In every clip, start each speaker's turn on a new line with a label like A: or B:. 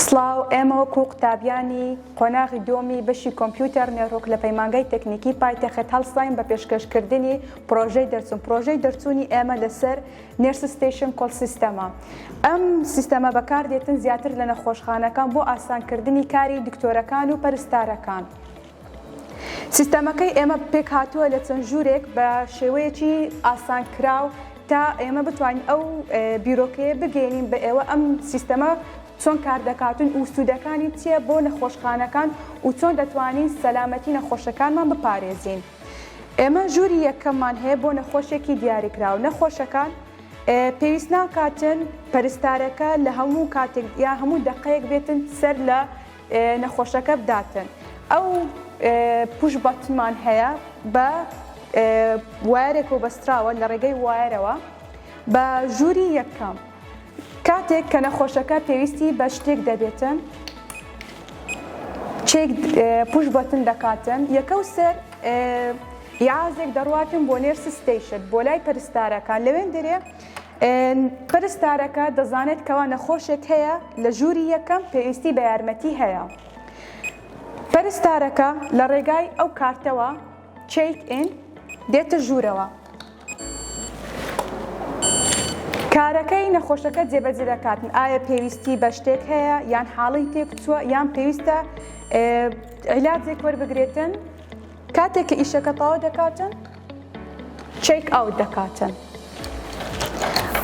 A: سڵاو، ئێمە وەکو قوتابیانی قۆناغی دووەمی بەشی کۆمپیوتەر نێروک لە پەیمانگای تەکنیکی پایتەخت هەڵساین بە پێشکەشکردنی پڕۆژەی دەرچوون. پڕۆژەی دەرچوونی ئێمە لەسەر Nurse Station Call System، ە. ئەم سیستەمە بەکاردێتن زیاتر لە نەخۆشخانەکان بۆ ئاسانکردنی کاری دکتۆرەکان و پەرستارەکان. سیستەمەکەی ئێمە پێکهاتووە لە چەند ژوورێک بە شێوەیەکی ئاسانکراو تا ئێمە بتوانین ئەو بیرۆکەیە بگەینین بە ئێوە ئەم سیستەمە چۆن کاردەکاتون و سوودەکانی چییە بۆ نەخۆشخانەکان و چۆن دەتوانین سەلامەتی نەخۆشەکانمان بپارێزین. ئێمە ژووری یەکەممان هەیە بۆ نەخۆشێکی دیاریکراو، نەخۆشەکان پێویست ناکاتن پەرستارەکە لە هەموو کاتێک یا هەموو دەقەیەک بێتن سەر لە نەخۆشەکە بداتن ئەو پوش بەتنمان هەیە بە وایرێک و بەستراوە لە ڕێگەی وایرەوە بە ژووری یەکەم. کاتێک کە نەخۆشەکە پێویستی بە شتێک دەبێتن چێک پوش بەتن دەکاتن یەکە و سەر یازێک دەڕاتن بۆ نێر سستەیشت بۆ لای پەرستارەکە لەوێن درێ پەرستارەکە دەزانێت کەوا نەخۆشێک هەیە لە ژووری یەکەم پێویستی بە یارمەتی هەیە پەرستارەکە لە ڕێگای ئەو کارتەوە چێک ئین دێتە ژوورەوە. کارەکەی نەخۆشەکە جێبەجێ دەکات ئایا پێویستی بە شتێک هەیە یان حاڵی تێکچووە یان پێویستە عیلاجێک وەربگرێتن کاتێک کە ئیشەکە تەواو دەکاتن چێک ئاوت دەکاتن.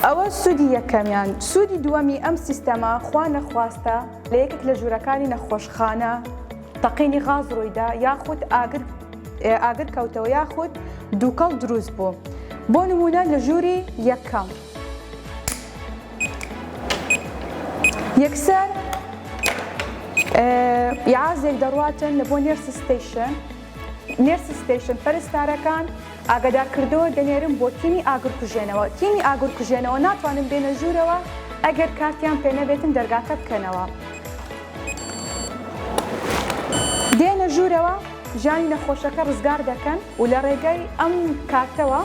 A: ئەوە سوودی یەکەمیان سوودی دووەمی ئەم سیستەما خوا نەخواستە لە یەکێک لە ژوورەکانی نەخۆشخانە تەقینی غاز ڕوویدا یاخود ئاگر ئاگر کەوتەوە یاخود دووکەڵ دروست بوو بۆ نمونە لە ژووری یەکەم یەکسەر یازێک دەڕاتن لە بۆ نێرس ستیشن نێرس ستیشن پەرستارەکان ئاگادارکردەوە دەنێرم بۆ تیمی ئاگرکوژێنەوە تیمی ئاگرکوژێنەوە ناتوانن بێنە ژوورەوە ئەگەر کارتیان پێنەبێتن دەرگاکە بکەنەوە دێنە ژوورەوە ژانی نەخۆشەکە ڕزگار دەکەن و لە ڕێگای ئەم کارتەوە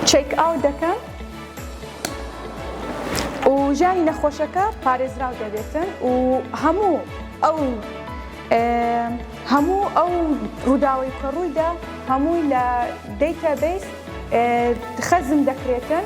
A: چێک ئاوت دەکەن و ژانی نەخۆشەکە پارێزراو دەبێتن و هەموو ئەو هەموو ئەو ڕووداوی کە ڕوویدا هەمووی لە دیتابیس خەزم دەکرێتن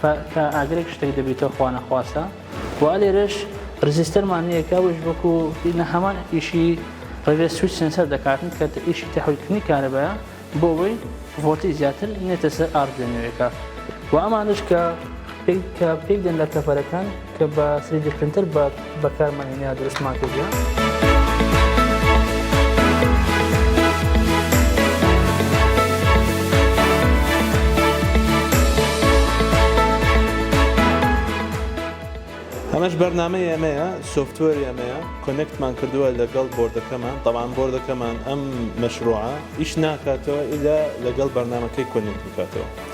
A: فە کە ئاگرێک شتێک دەبیتەوە خوا نەخواستە و لێرەش رزیستەرمان نییە کە ئەوش وەکو نە هەمان ئیشی ڕێ سوچ سنسەر دەکاتن کە ئیشی تەحولکردنی کارەبایە بۆ ئەوەی ڤۆلتی زیاتر نێتە سەر ئارد لە نوێەکە و ئەمانش کە کە پێکدێن لە کەفەرەکان کە بە سریدی پرنتەر بە بەکارمان هێنایا دروستمان کردیان. ئەمەش بەرنامەی ئێمەیە سۆفتوەری ئەمەیە کۆنێکتمان کردووە لەگەڵ بۆردەکەمان تەوان بۆردەکەمان ئەم مەشروعە ئیش ناکاتەوە ئیلا لەگەڵ بەرنامەکەی کۆنێکت بکاتەوە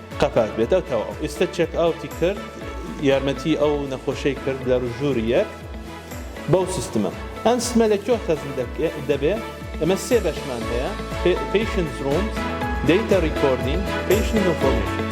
A: قەپات بێت ئەو تەواو ئیستە چێک ئاوتی کرد یارمەتی ئەو نەخۆشەی کرد لە ژووری یەک بەو سیستمە ئەم سمە لە کۆ خەزن دەبێ ئەمە سێ بەشمان هەیە پیشن زروم دیتا ریکۆردین پیشن نۆفۆرمیشن